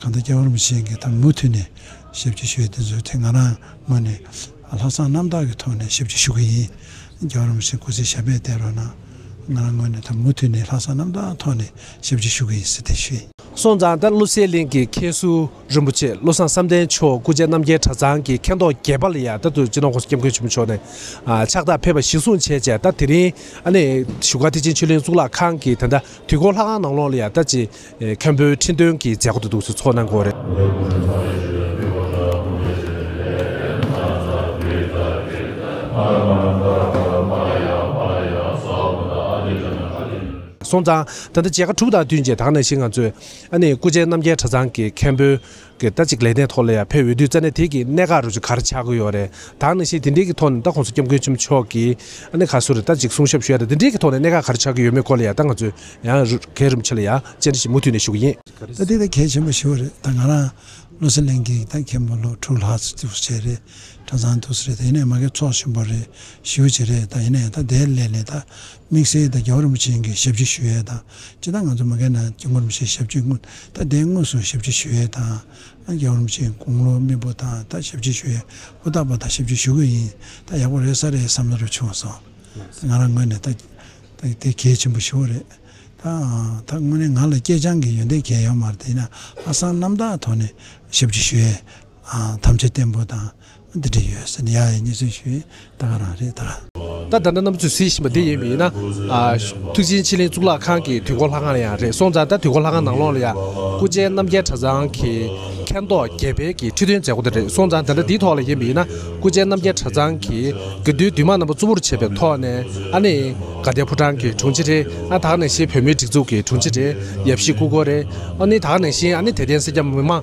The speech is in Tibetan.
གང་ལྟར་སྐྱེ་བ་རིན་པོ་ཆེ་འགའི་ཐོག་མུ་མཐུད་ནས་ཞབས་ཕྱི་ཞུས་དེ་ཚོའི་ཐད་ང་རང་ངོས་ནས་ལྷག་བསམ་རྣམ་དག་གི་ཐོག་ནས་ཞབས་ཕྱི་ཞུ་གི་ཡིན། སྐྱེ་བ་རིན་པོ་ཆེ་སྐུ་ཚེ་ཞབས་པད་བརྟན་རོགས་གནང། ང་རང་ངོས་ནས་ད་མུ་མཐུད་ནས་ལྷག་བསམ་རྣམ་དག་ཐོག་ནས་ཞབས་ཕྱི་ཞུ་གི་ཡིན་ཟེར་ཏེ་ཞུས། སོང་ཙང་ལྟར་ཀླུ་སེ་གླིང་གི་མཁན་ཟུར་རིན་པོ་ཆེ་བློ་བཟང་བསམ་གཏན་མཆོག་སྐུ་ཆེ་རྣམ་རྒྱལ་གྲྭ་ཚང་གི་མཁན་ཐོག་རྒྱལ་པ་ལ་ཡང་ལྟར་དུ་སྤྱི་ནོར་ཁོང་སྐྱབས་མགོན་ཆེན་པོ་མཆོག་ནས་ཕྱག་རྟགས་ཕེབས་པ་གཞི་བཟུང་བྱས་བྱས་ལྟར་དེ་རིང་ཨ་ནེ་བཞུགས་སྒར་ཐེག་ཆེན་ཆོས་གླིང་གཙུག་ལག་ཁང་གི་དེ་འདྲ་དུས་འཁོར་ལྷ་ཁང་ནང་ལོགས་ལ་ཡང་ལྟར་གྱི་མཁན་པོའི་ཁྲི་འདོན་གྱི་མཛད་སྒོ་དུ་འདུག་ཚུལ་ཚོགས་ནང་སྐོར། སོང་ཙང་ད་ལྟ་མཇལ་ཁ་དྲུག་དང་བསྟུན་རྗེས་ད་ང་ནང་བཞིན་ང་ཚོས་ཨ་ནེ་སྐུ་མཇལ་རྣམ་རྒྱལ་གྲྭ་ཚང་གི་མཁན་པོའི་གི་ད་ཅིག་ལས་གནས་ཐོག་ལ་ཡང་ཕེབས་འོས་དུས་རྩ་གནས་དེ་གི་གནས་ག་རུ་ཆུ་གར་ཆག་གི་ཡོད་རེད་དང་ནི་ཞེས་དེ་འདྲའི་གི་ཐོག་ནས་ད་ཁོང་ཚོ་སྐྱབས་མགོན་ཆེན་པོ་མཆོག་གི་ཨ་ནི་ག་སུ་རེད་ད་ཅིག་གསུང་ཞབས་ཞུ་ཡ་རེད་དེ་འདྲའི་གི་ཐོག་ནས་གནས་ག་གར་ཆག་གི་ཡོད་མེད་སྐོར་ལ་ཡང་ད་ང་ཚོས་ཡང་གས་རིམ་ཆེ་ལ་ཡང་བཅར་འདྲི་ཞིག་མུ་མཐུད་ནས་ཞུ་གི་ཡིན། ད་དེ་ད་གས་ཆེན་པོ་ཞུ་བ་རེད་ད་ང་རང་བློ་སེང་གླིང་གི་ད་མཁན་པོ་ལོ་དྲུག་ལྷག་ཚུ་ཚུགས་བྱས་རེད་གྲ་ཚང་འདུག་སུ་རེད་ད་ཡིན་ནས་མ་གས་ཚོགས་ཆེན་པོ་རེད་ཞུ་བྱས་རེད་ད་ཡིན་ནས་ད་དེ་ལས་ནས་ད་དམིགས་བསལ་དང་རྒྱལ་བ་རིན་པོ་ཆེ་གཉིས་ཀྱི་ཞབས་ཕྱི་ཞུ་ཡས་དང། སྤྱི་བཏང་ང་ཚོ་མི་འགའི་ནང་སྐྱབས་མགོན་རིན་པོ་ཆེའི་ཞབས་ཕྱི་དངུལ་ད་ལྟའི་དངོས་སུ་ཞབས་ཕྱི་ཞུ་ཡས་དང། རྒྱལ་བ་རིན་པོ་ཆེའི་དགུང་ལོ་རྨིས་པོ་དང་ད་ཞབས་ཕྱི་ཞུ་ཡས་ཧུར་ཐག་པ་དང་ཞབས་ཕྱི་ཞུ་གི་ཡིན་ད་ཡག་པོ་རེད་ས་རེད་བསམ་བློ་རེ་བྱུང་སོང། ད་ང་རང་ངོས་ནས་ད་དེ་གལ་ཆེན་པོ་ཞུ་བ་རེད། ད་ད་དངོས་གནས་ང་ལ་སྐྱེས་སྦྱངས་ཀྱི་ཡོན་ཏན་གལ་ཡོད་མ་རེད་ཡིན་ན་ཧ་སང་རྣམ་དག་ཐོག་ནས་ཞབས་ཕྱི་ཞུ་ཡས་དམ་བཅའ་བརྟན་པོ་དང་འདི་འདྲ་ཡོད་ཟེར་ནས་ཡ་ཡི་གཉིས་ཚོད་ཞུས་ཡིན་ད་ག་རང་རེད་ད། ད་ད་ནི་གནམ་ཆུ་ཟེར་བཞིན་པ་འདི་ཡིན་མིན་ན། ཐུགས་ཆེན་ཕྱི་གླིང་གཙུག་ལག་ཁང་གི་དུས་འཁོར་ལྷ་ཁང་ཡང་རེད་སོང་ཙང་ད་དུས་འཁོར་ལྷ་ཁང་ནང་ལོགས་ལ་ཡང་སྐུ་མཆེན་རྣམ་རྒྱལ་གྲྭ་ཚང་གི་མཁན་ཐོག་རྒྱལ་འཕེལ་གྱི་ཁྲི་འདོན་མཛད་སྒོ་དེ་རེད་སོང་ཙང་ད་ལྟ་འདིའི་ཐོག་ལ་ཡིན་མིན་ན་སྐུ་མཆེན་རྣམ་རྒྱལ་གྲྭ་ཚང་གི་དགེ་འདུན་འདུས་མང་རྣམ་པ་གཙོ་བོར་བྱས་པའི་ཐོག་ནས་ཨ་ནི་དགའ་ལྡན་ཕོ་བྲང་གི་དྲུང་ཆེ་རེད་ཨ་ད་ནང་བཞིན་བོད་མིའི་སྒྲིག་འཛུགས་ཀྱི་དྲུང་ཆེ་རེད་ཡབ་གཞིས་སྐུ་འཁོར་རེད་ཨ་ནི་ད་ནང་བཞིན་ཨ་ནི་དད་ལྡན་སེར་སྐྱ་མི་མང།